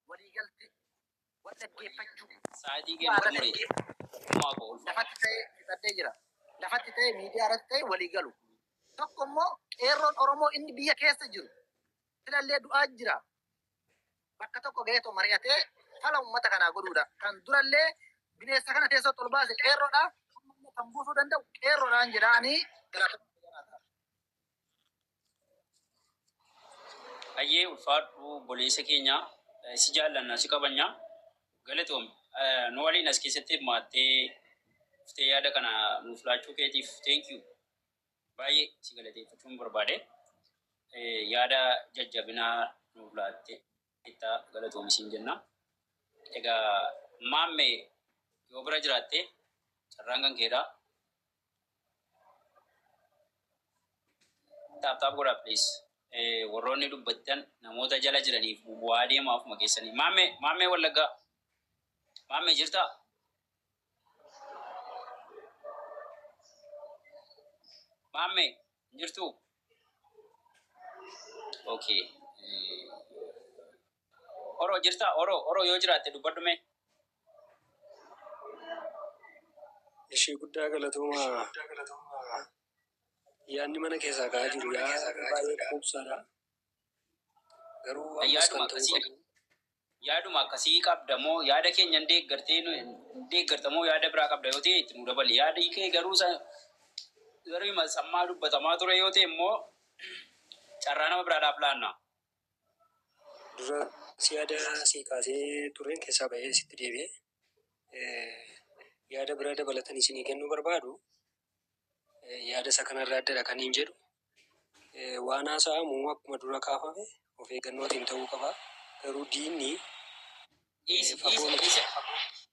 waliigalte wal dhaggeeffachuu Sa'aatii bu'aa keenya irratti xumuree. dhaggeeffatu Kumaa koo ulfa. lafatti ta'ee ibsadhee jira. Lafatti ta'ee miidiyaa irratti ta'ee walii galu. Tokko immoo qeerroon Oromoo inni biyya keessa jiru filallee du'aa jira. Bakka tokko ga'ee too mari'atee fala uummata kanaa godhuudha. Kan durallee bineensa kana teessoo ol baase qeerroodha. Kan buusuu danda'u qeerroodhaan jedhaanii galaafachuu jiraata. Ayyee ulfaadhu obboleessa keenya eh, si jaallanna si kabanya galatoomi Eh, nu waliin as keessatti hirmaattee dhuftee yaada kana nuuf laachuu keetiif thank you baay'ee si galateeffachuun barbaade Eh, yaada jajjabinaa nuuf laattee itti galatoomi siin jenna egaa maammee yoo bira jiraatte carraan kan keedhaa Taap taap godhaa please. Eh, Warroonni dubbattan namoota jala jiraniif bu'aa deema ofuma keessanii. Maammee, maammee wallaggaa. Maammee jirtaa? Maammee, hin jirtuu? Okay. Eh, Oro jirtaa oro oro yoo jiraatte dubbadhu mee. Eshii guddaa galatoomaa yaanni mana keessaa ka'aa jiru yaa baay'ee quubsaadha garuu ammas Yaaduma kan ta'uu akkasii qabu yaaduma akkasii qabda moo yaada keenya hin deeggartee nu- hin deeggarta moo yaada biraa qabda yoo ta'e itti nu dabali yaadi kee garuu sa- garuu hima sammaa dubbatamaa ture yoo ta'e immoo carraa nama biraadhaaf laanna. Dura si yaada si kaasee tureen keessaa ba'ee sitti deebi'e. Yaada biraa dabalatan isinii kennuu barbaadu. Yaada isa kanarraa addadha kan hin jedhu. Waan haasa'amu akkuma dura kaafame of eeggannootiin ta'uu qaba. Garuu diinni fagoo miti.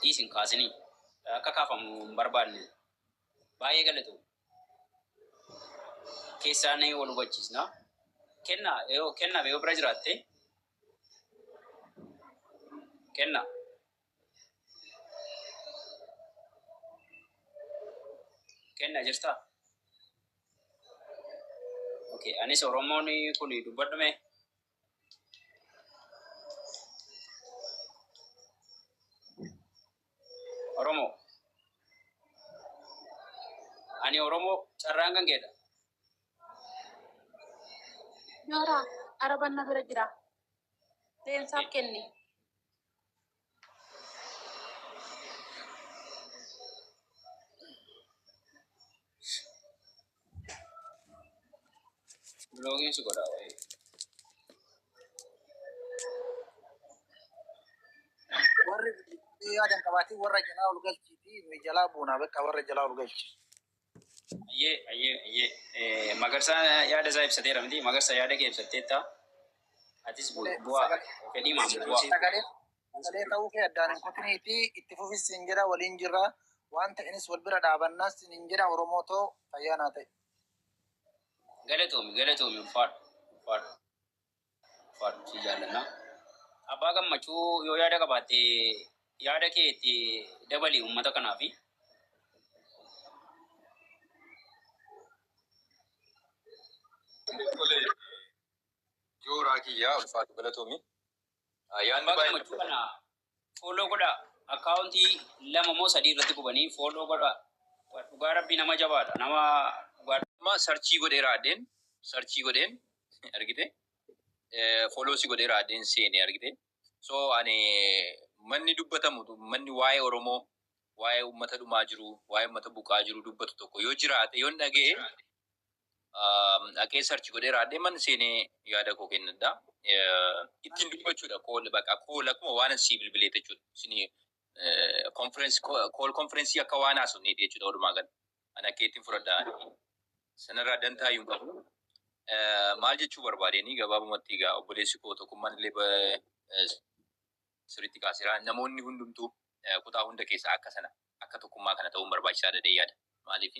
dhiisi hin kaasinii. Akka kaafamu hin barbaadne. Baay'ee galatoomi. Keessaan wal hubachiisna. Kenna yoo kenna yoo bira jiraatte kenna. Kenna jirtaa? Okay, anis Oromoon kun dubbadhume. Oromoo. Ani Oromoo carraan kan keedha. Nooraa, araban na bira jira. Leensaaf kenni. Blogging suka dah. eh. warri yaadan qabaatee warra jalaa ol galchiiti nuyi jalaa buunaa bakka warra jalaa ol galchi. Ayyee ayyee ayyee Eh, Magarsaa yaada isaa ibsateera miti Magarsa yaada kee ibsatteetta atis bu- Sagalee bu'aa sagalee fedhii maaf sagalee bu'aa sagalee sagalee ta'uu kee addaan hin kutinii fi itti fufis siin jedha waliin jirra waan ta'enis wal bira dhaabannaas siin hin jedha Oromoo too fayyaa naa ta'e. galatoomi galatoomi ulfaadhu ulfaadhu. Ulfaadhu si jaallanna. Abbaa Gammachuu yoo yaada qabaatte yaada kee itti dabali uummata kanaafi. Tole jooraa kiyyaa ulfaadhu galatoomi. Yaadni Abbaa baay'ee Gammachuu kana Follow godhaa account lama moo sadii irratti gubanii follow godhaa dhugaa rabbii nama jabaadha nama dhugaa Amma sarchii godheera addeen sarchii godheen argite eh, follow si godheera addeen seene argite so ani manni dubbatamu manni waa'ee oromoo waa'ee ummata dhumaa jiru waa'ee ummata buqaa jiru dubbatu tokko yoo jiraate yoon dhaga'e dhaqee sarchi godhee raadhee man seenee yaada koo kennadha. Ittiin dubbachuudha kool baqa kool akkuma waan sii bilbilee jechuudha. Isin konferensi kool konferensii akka waan haasofnee jechuudha walumaa gala. Ani akka ittiin fudhadha. Sanarraa dantaa hin qabu. Maal jechuu barbaadeenii gabaabumatti egaa obboleessi koo tokkummaan illee sirriitti kaaseera. Namoonni hundumtuu kutaa hunda keessaa akka sana akka tokkummaa kana ta'uun barbaachisaa dadhee yaada. Maaliif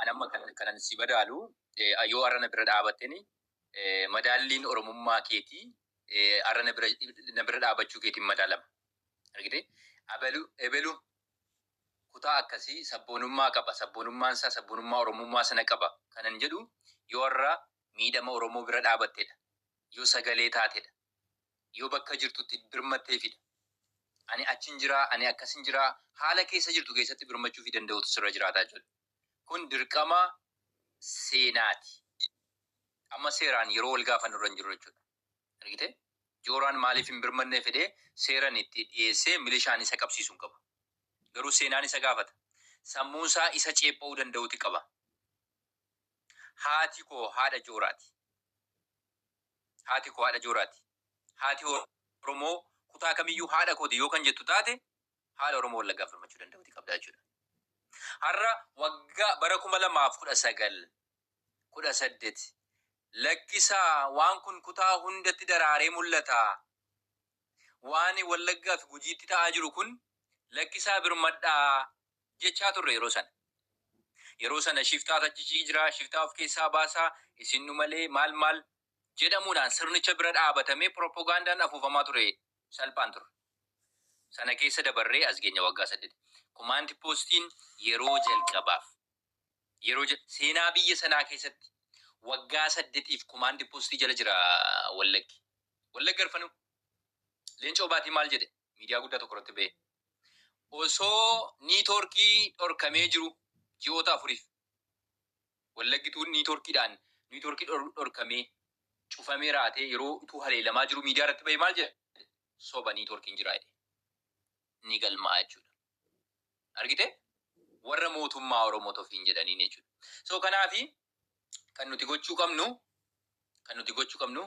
an amma kan kanan si madaalu eh, yoo har'a na bira dhaabatteni eh, madaalliin oromummaa keetii eh, har'a na bira na bira dhaabachuu keetiin madaalama. Argitee? Abalu ebelu kutaa akkasii sabboonummaa qaba. Sabboonummaan isaa sabboonummaa oromummaa sana qaba. Kanan jedhu yoo har'a miidhama oromoo bira dhaabattedha. Yoo sagalee taatedha. Yoo bakka jirtutti birmatteefidha. Ani achin jira, ani akkasin jira, haala keessa jirtu keessatti birmachuufi danda'uutu sirra jiraata jechuudha. Kun dirqama seenaati. Amma seeraan yeroo wal gaafannu irra hin jirru jechuudha. Argite? Jooraan maaliif hin birmannee fedhee seeran itti dhiyeessee milishaan isa qabsiisu hin qabu. Garuu seenaan isa gaafata. Sammuun isaa isa ceepha'uu danda'uti qaba. Haati koo haadha Jooraati. Haati koo haadha jooraati. Haati Oromoo kutaa kamiyyuu haadha kooti yoo kan jettu taate haala Oromoo Wallaggaan falmachuu danda'uti qabda jechuudha. Har'a waggaa bara 2019, 18 lakkisaa waan kun kutaa hundatti daraaree mul'ata. Waan Wallaggaa fi Gujiitti ta'aa jiru kun lakkisaa birmadhaa jechaa turre yeroo sana. Yeroo sana shiftaatu achichii jira, shiftaa of keessaa baasaa, isin nu malee maal maal jedhamuudhaan sirnicha bira dhaabatamee pirooppogaandaan afuufamaa ture salphaan turre. Sana keessa dabarree as geenya waggaa saddeet. Kumaanti poostiin yeroo jalqabaaf yeroo jal- seenaa biyya sanaa keessatti waggaa saddetiif kumaanti poostii jala jira wallaggi. Wallagga arfanuu. Leencoo baatii maal jedhe? miidiyaa guddaa tokko irratti ba'e. Osoo niitoorkii dhorkamee jiru ji'oota afuriif wallaggituun niitoorkiidhaan niitoorkii dhorkamee cufamee raatee yeroo utuu haleelamaa jiru miidiyaa irratti ba'e maal jedhe? Soba niitoorkiin jiraa jedhe. Ni galma'a jechuudha. Argite? Warra mootummaa Oromoo tofiin jedhaniin jechuudha. So kanaafi kan nuti gochuu qabnu kan nuti gochuu qabnu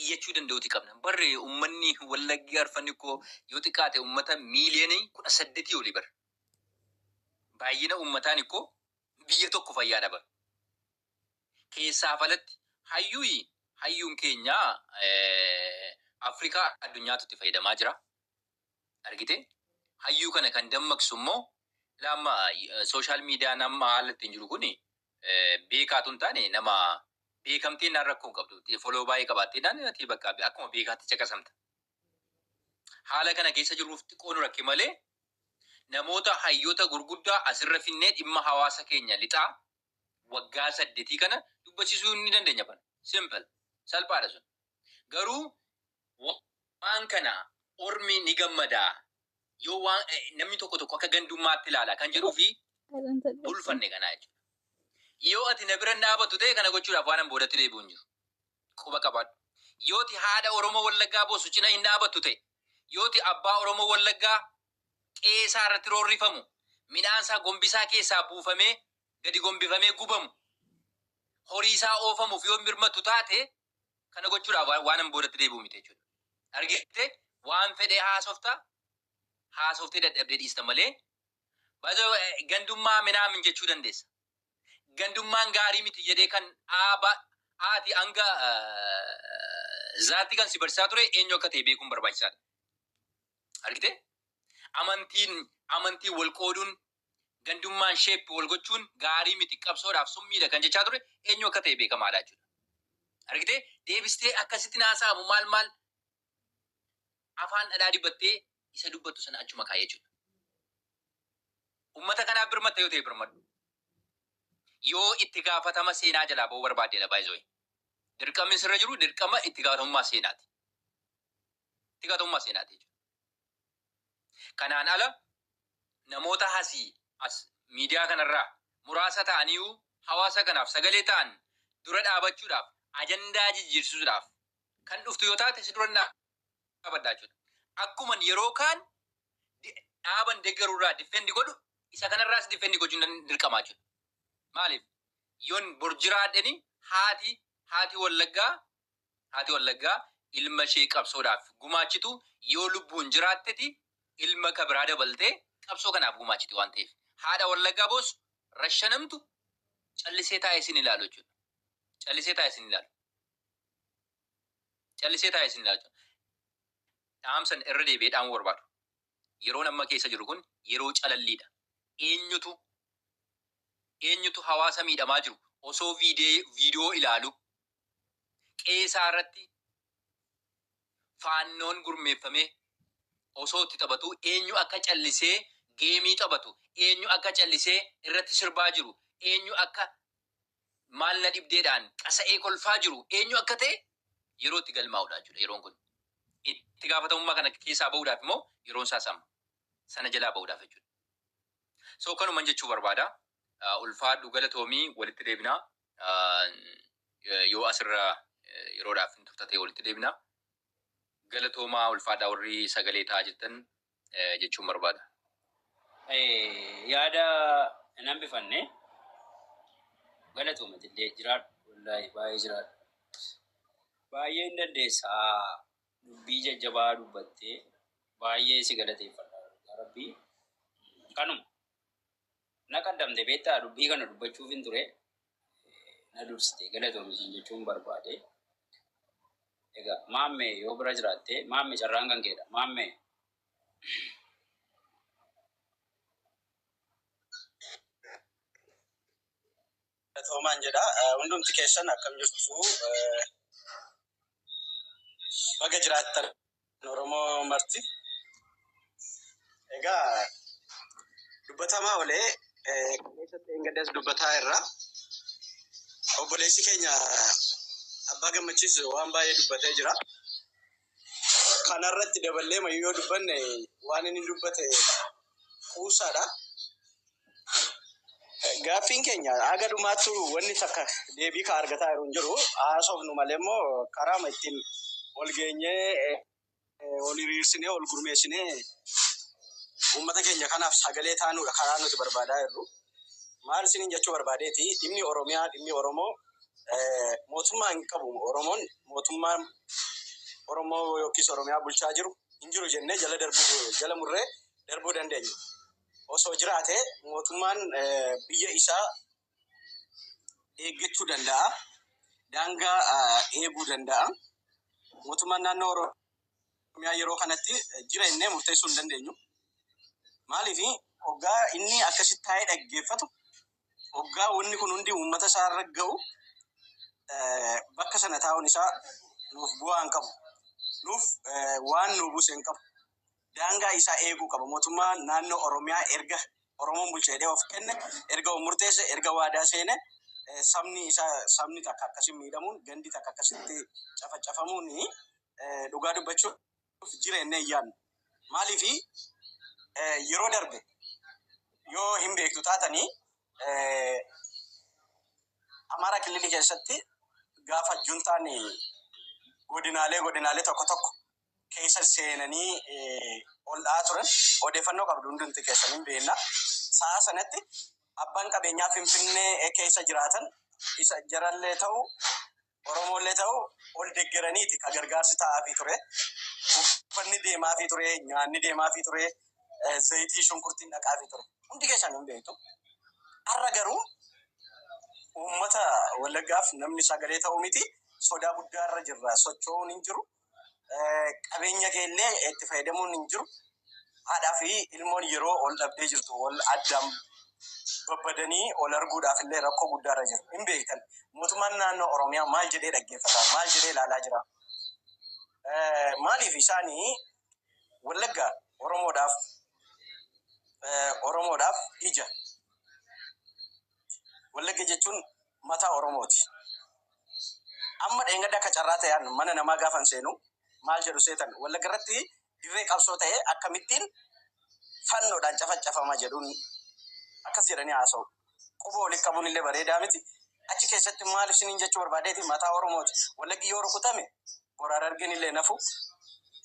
iyyachuu danda'uuti qabna. Barre uummanni wallaggi arfanni koo yoo xiqqaate uummata miiliyoonii kudha saddetii olii bara. Baay'ina uummataan koo biyya tokko fayyaa dhaba. Keessaaf alatti hayyuyi hayyuun keenya Afrikaa addunyaatu itti fayyadamaa jira. Argite? Hayyuu kana kan dammaqsu immoo ilaa amma social median amma haala ittiin jiru kun beekaa tun taane nama beekamtee naan rakkoo hin qabdu. Follow baay'ee qabaattee naan ati bakka akkuma beekaatti caqasamta. Haala kana keessa jirruuf xiqqoo nu rakke malee namoota hayyoota gurguddaa asirra finnee dhimma hawaasa keenya lixaa waggaa saddetii kana dubbachisuu ni dandeenya bana. Simple. Salphaadha sun. Garuu waan kana ormi ni gammada yoo waan namni tokko tokko akka gandummaatti ilaala kan jedhuu fi bulfanne kanaa jechuudha. Yoo ati na bira hin dhaabattu ta'e kana gochuudhaaf waanan boodatti deebi'u hin jiru. Quba qabaadhu. Yoo ati haadha Oromoo Wallaggaa boosu cina hin dhaabattu ta'e, yoo ati abbaa Oromoo Wallaggaa qe'ee isaa irratti roorrifamu, midhaan isaa gombisaa keessaa buufamee gadi gombifamee gubamu, horii isaa oofamuuf yoo hin birmattu taate kana gochuudhaaf waan- waanan boodatti deebi'u miti jechuudha. Argite waan fedhee haasofta haasoftee dadhabdee dhiista malee bazo gandummaa minaamin jechuu dandeessa. Gandummaan gaarii miti jedhee kan dhaaba haati hanga eh, zaatti kan si barsiisaa ture eenyu akka ta'e beekuun barbaachisaadha. Argite amantiin amantiin wal qooduun gandummaan shape wal gochuun gaarii miti qabsoodhaaf summiidha kan jechaa ture eenyu akka ta'e beekamaadha jechuudha. Argitee deebistee akkasitti haasa'amu maal maal afaan dhadhaa dibattee isa dubbattu sana achuma kaa'ee jechuudha. Uummata kanaaf birmatta yoo ta'e birmadhu. Yoo itti gaafatama seenaa jalaa ba'uu barbaaddeedha baay'isooyi. Dirqamni sirra jiru dirqama itti gaafatamummaa seenaati. Itti gaafatamummaa seenaati jechuudha. Kanaan ala namoota hasii as miidiyaa kanarraa muraasa ta'aniiyuu hawaasa kanaaf sagalee ta'an dura dhaabachuudhaaf ajandaa jijjiirsisuudhaaf kan dhuftu yoo taate si duran dhaabadha jechuudha. Akkuman yeroo kaan dhaaban deggarurraa diffendi godhu isa kanarraas diffendi gochuun dirqama jechuudha. Maaliif? Yoon bor jiraadheni haati haati wallaggaa Haati Wallaggaa ilma ishee qabsoodhaaf gumaachitu yoo lubbuun jiraatteti ilma ka biraa dabaltee qabsoo kanaaf gumaachiti waan ta'eef haadha Wallaggaa boossu, rashanamtu callisee taa'ee isin ilaalu jechuudha. Callisee taa'ee isin ilaalu. Callisee taa'ee isin ilaalu jechuudha. Dhaamsan irra deebi'ee dhaamuu barbaadu. Yeroon amma keessa jiru kun yeroo calalliidha. Eenyutu eenyutu hawaasa miidhamaa jiru osoo viidee- viidiyoo ilaalu qe'ee isaa irratti faannoon gurmeeffamee osoo itti taphatuu eenyu akka callisee geemii taphatu, eenyu akka callisee irratti sirbaa jiru, eenyu akka maal na dhibdeedhaan qasa'ee kolfaa jiru eenyu akka ta'e yeroo itti galmaa'udha jechuudha yeroon kun. Itti gaafatamummaa kana keessaa ba'uudhaaf immoo yeroon isaas amma. Sana jalaa ba'uudhaaf jechuudha. So kanuman jechuu barbaada. Ulfaadhu galatoomii walitti deebinaa. Yoo asirra yeroodhaaf hin turta ta'e walitti deebina. Galatoomaa ulfaadhaa warri sagalee ta'aa jirtan jechuun barbaada. Yaada hin hambifanne galatooma jedhee jiraadhu. Wallaahi baay'ee jiraadhu. Baay'ee hin dandeessa. Dubbii jajjabaa dubbattee baay'ee si galateeffadha. Rabbii kanuma. Na qaddamte beektaa dubbii kana dubbachuufin ture na dursite galatoomi siin jechuun barbaade. Egaa maamme yoo bira jiraatte maamme carraan kan keedha maamme. Galatoomaan jedha hundumti keessan akkam jirtu baga jiraattan Oromoo marti. Egaa dubbatamaa olee keessatti engaddas dubbataa irra obboleessi keenya abbaa gammachiis waan baay'ee dubbatee jira. Kana irratti daballee mayyuu yoo dubbanne waan inni dubbate kuusaadha. Gaaffiin keenya haga dhumaattu wanni takka deebii ka argataa jiru hin jiru. Haasofnu malee immoo karaama ittiin wal geenyee eh, wal hiriirsinee wal gurmeessinee uummata keenya kanaaf sagalee taanuudha karaa nuti barbaadaa jirru. Maal isiniin jechuu barbaadeeti dhimmi Oromiyaa dhimmi Oromoo Mootummaa hin qabu Oromoon mootummaan Oromoo yookiis Oromiyaa bulchaa jiru hin jiru jennee jala darbuu jala murree darbuu dandeenya. Osoo jiraate mootummaan biyya isaa eeggachuu danda'a. Daangaa eeguu danda'a. Mootummaan naannoo Oromiyaa yeroo kanatti jira jennee murteessuu hin dandeenyu. Maaliif hoggaa inni akkasitti taa'ee dhaggeeffatu Hoggaa wanni kun hundi uummata isaa irra ga'u bakka sana taa'uun isaa nuuf bu'aa hin qabu. Nuuf waan nuu buuse hin qabu. Daangaa isaa eeguu qaba. Mootummaa naannoo Oromiyaa erga Oromoon bulcha jedhee of kenne, erga of murteesse, erga waadaa seene sabni isaa sabni takka akkasiin miidhamuun, gandi takka akkasitti cafacafamuun dhugaa dubbachuuf nuuf jira jennee hin yaadnu. Maaliif yeroo darbe yoo hin beektu taatanii Amaaraa Killilii keessatti gaafa juntaan godinaalee godinaalee tokko tokko keessa seenanii ol dha'aa turan odeeffannoo qabdu hundumti keessan hin beekna. Sa'a sanatti abbaan qabeenyaa Finfinnee keessa jiraatan isa jarallee ta'u Oromoollee ta'u ol deggeraniiti ka gargaarsi ta'aafii ture. Uffanni deemaafii ture, nyaanni deemaafii ture, zayitii shunkurtiin dhaqaafii ture. Hundi keessan hin beektu. Har'a garuu uummata Wallaggaaf namni sagalee ta'u miti. Sodaa guddaa irra jirra. Socho'uun hin jiru. qabeenya kee illee itti fayyadamuun hin jiru. Haadhaa fi ilmoon yeroo ol dhabdee jirtu ol addaan babbadanii ol arguudhaaf illee rakkoo guddaa irra jiru. Hin beektan. Mootummaan naannoo Oromiyaa maal jedhee dhaggeeffata? Maal jedhee ilaalaa jira? Eh, Maaliif isaanii Wallagga Oromoodhaaf eh, Oromoodhaaf ija Wallagga jechuun mataa Oromooti. Amma dheengadda akka carraa ta'een mana namaa gaafan seenu maal jedhu seetan Wallagga irratti dirree qabsoo ta'e akkamittiin fannoodhaan cafacafama jedhuun akkas jedhanii haasa'u. Quba walitti qabuun illee bareedaa miti. Achi keessatti maal isiniin jechuu barbaadeeti mataa Oromooti. Wallaggi yoo rukutame Bor Harargenillee hin hafu.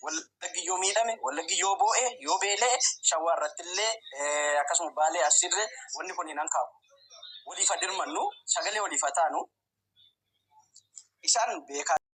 Wallaggi yoo miidhame, Wallaggi yoo boo'e, yoo beela'e Shawaa irrattillee akkasuma Baalee, Arsiirree wanni kun hin hankaaku. Waliif haa dirmannu, sagalee waliif haa taanu. Isaan beekaa.